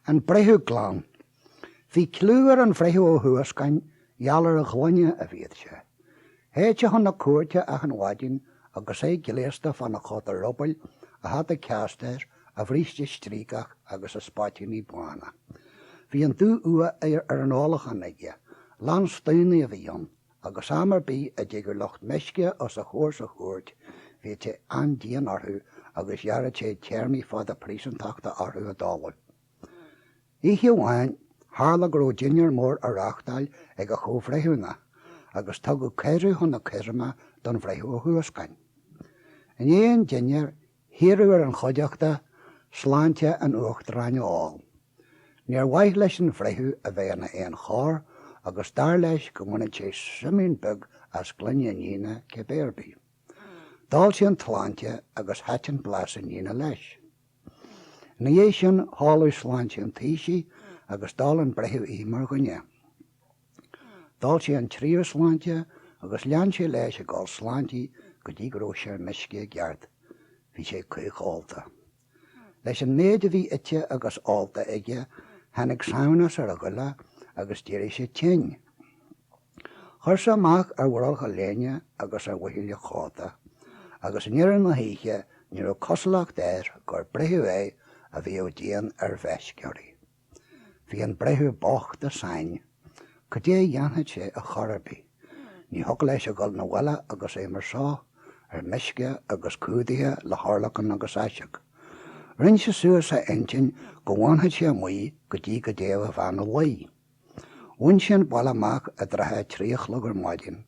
An breitheamh glan. Bhí cliú ar an bhreitheamh Ó hUascáin gheall ar a ghlaine a bhíodh sé. Théadh sé chun na cúirte achan mhaidin agus é gléasta fána chóta rubaill a hata ceastair, a bhríste stríocach agus a spáitíní bána. Bhí an dú-fhuath ar an ólachán aige. Lánstaonaí a bhí ann, Agus am ar bith a dtigeadh lucht meisce os a chomhair sa chúirt bhíodh sé an-dian orthu agus ghearradh sé téarmaí fada príosúntachta orthu i dtólamh. Oíche amháin tharla go raibh dinnéar mór á reáchtáil ag a chomhbhreithiúna agus tugadh cuireadh chun na coirme don Bhreitheamh Ó hUascáin. I ndiaidh an dinnéir hiarradh ar an chuideachta sláinte an Uachtaráin a ól. Níor mhaith leis an bhreitheamh a bheith ina éan chorr agus dar leis go mbainfeadh sé súimín beag as gloine an fhíona cibé ar bith. D'ól sé an tsláinte agus thaitin blas an fhíona leis. Ina dhiaidh sin hóladh sláinte an taoisigh agus d'ól an breitheamh í mar dhuine. D'ól sé an tríú sláinte agus lean sé leis ag ól sláintí go dtí go raibh sé ar meisce i gceart. Bhí sé caochólta. Leis an méid a bhí ite agus ólta aige tháinig samhnas ar a ghoile agus d'éirigh sé tinn. Chuir sé amach ar bhrollach a léine agus ar mhuinchille a chóta, agus i ndeireadh na hoíche ní raibh cosúlacht air gur breitheamh é a bhíodh dian ar mheisceoirí. Bhí an breitheamh bocht i sáinn. Cad é a dhéanfadh sé a chor ar bith. Ní thiocfadh leis a dhul 'na bhaile agus é mar so, ar meisce agus cumhdaithe le hurlacan agus aiseag. Rinn sé suas a intinn go bhfanfadh sé amuigh go dtí go dtéadh a bhean a luí. Bhain sé an baile amach i dtrátha a trí a chlog ar maidin.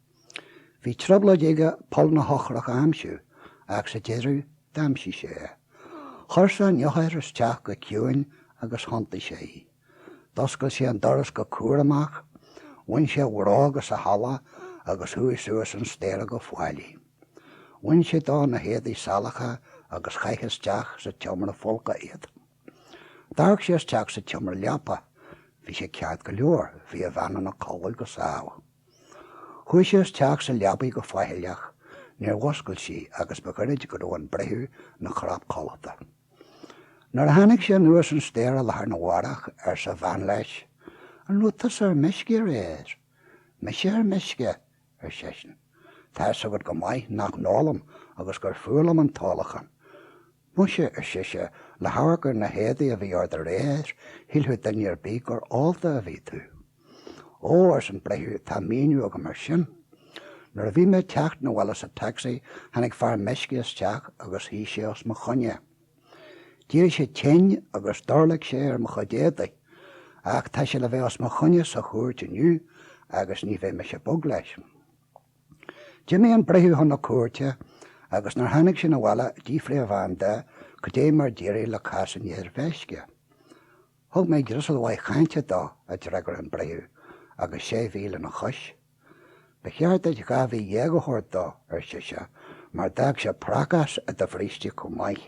Bhí trioblóid aige poll na heochrach a aimsiú ach sa deireadh d'aimsigh sé é. Chuir sé an eochair isteach go ciúin agus thiontaigh sé í. D'oscail sé an doras go cúramach, bhain sé a bhróga sa halla agus chuaigh suas an staighre go fáilí. Bhain sé dó na héadaí salacha agus chaith isteach sa tseomra folctha iad. D'amharc sé isteach sa tseomra leapa. Bhí sé ceart go leor, bhí a bhean ina codladh go sámh. Chuaigh sé isteach sa leabaidh go faichilleach níor mhuscail sí agus ba ghairid go raibh an breitheamh ina chnap codlata. Nuair a tháinig sé anuas an staighre lá arna mhárach arsa a bhean leis, An raibh tusa ar meisce aréir? Mise ar meisce? ar seisean. Tá's agat go maith nach n-ólaim agus gur fuath liom an t-ólachán. Muise, ar sise, le hamharc ar na héadaí a bhí ort aréir, shílfeadh duine ar bith gur ólta a bhí tú. Ó, ars an breitheamh, tá míniú agam ar sin. Nuair a bhí mé ag teacht 'na bhaile sa taxi tháinig fear meisce isteach agus shuidh sé os mo choinne. D'éirigh sé tinn agus d'orlaic sé ar mo chuid éadaigh, ach tá sé le bheith os mo choinne sa chúirt inniu agus ní bheidh mise bog leis. D'imigh an breitheamh chun na cúirte agus nuair tháinig sé na bhaile d'fhiafraigh a bhean de goidé mar d'éirigh le cás an fhir mheisce. Thug mé dreasáil mhaith chainte dó, a d'fhreagair an breitheamh, agus sé mhí lena chois. Ba cheart duit dhá mhí dhéag a thabhairt dó, ar sise, mar d'fhág sé prácás i do bhríste chomh maith.